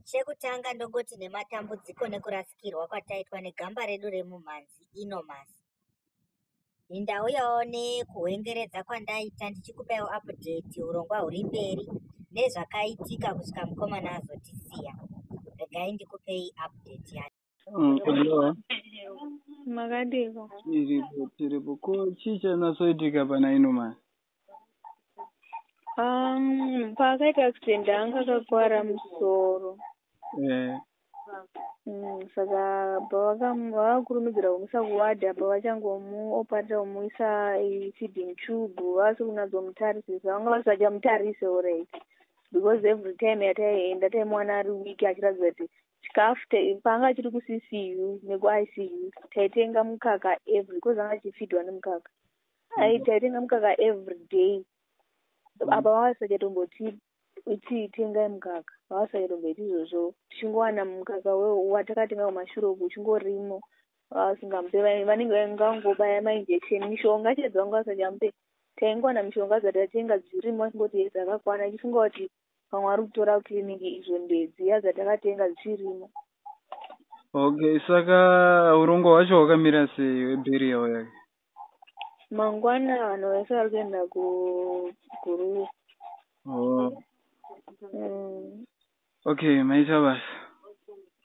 Chekutanga ndongoti nematambudziko nekurasikirwa kwataitwa negamba redu remumhanzi Inomas. Ndauyawo nekuhwengeredza kwandaita ndichikupaiwo update urongwa huri mberi nezvakaitika kusvika mukomana azotisiya. Regai ndikupei update yacho. Hello. Makadiko. Tiripo tiripo ko chii chanatsoitika pana ino mani? Um, paakaita accident anga akakuwara musoro. Eh. Mm, saka pavakakurumidzira kumuisa kuward apa vachangomuoparita kumuisa feeding tube vasi kunatsomutarisa vanga vasachamutarise alright because every time yataienda taimuwana ari week achiratidza kuti chikafu te- paanga chiri kuCCU nekuICU taitenga mukaka every coz anga achifidwa nemukaka ai Mhm. taitenga mukaka every day apa vavasachatombotipa itii tengai mukaka vavasachatomboiti izvozvo tichingowana mukaka we- watakatenga kumashure uku uchingorimo vasingamupe vai- vanenge vangangobaya mainjection mishonga chaidzo vanga vasachamupe taingowana mishonga dzatatenga dzirimo achingoti yes akakwana ichifunga kuti vamwe vari kutora kuclinic izvo ndee dziya dzatakatenga dzichirimo okay saka urongwa hwacho hwakamira sei weburial yake mangwana vanhu vese vari kuenda kuguruve oh. mm. okay maita basa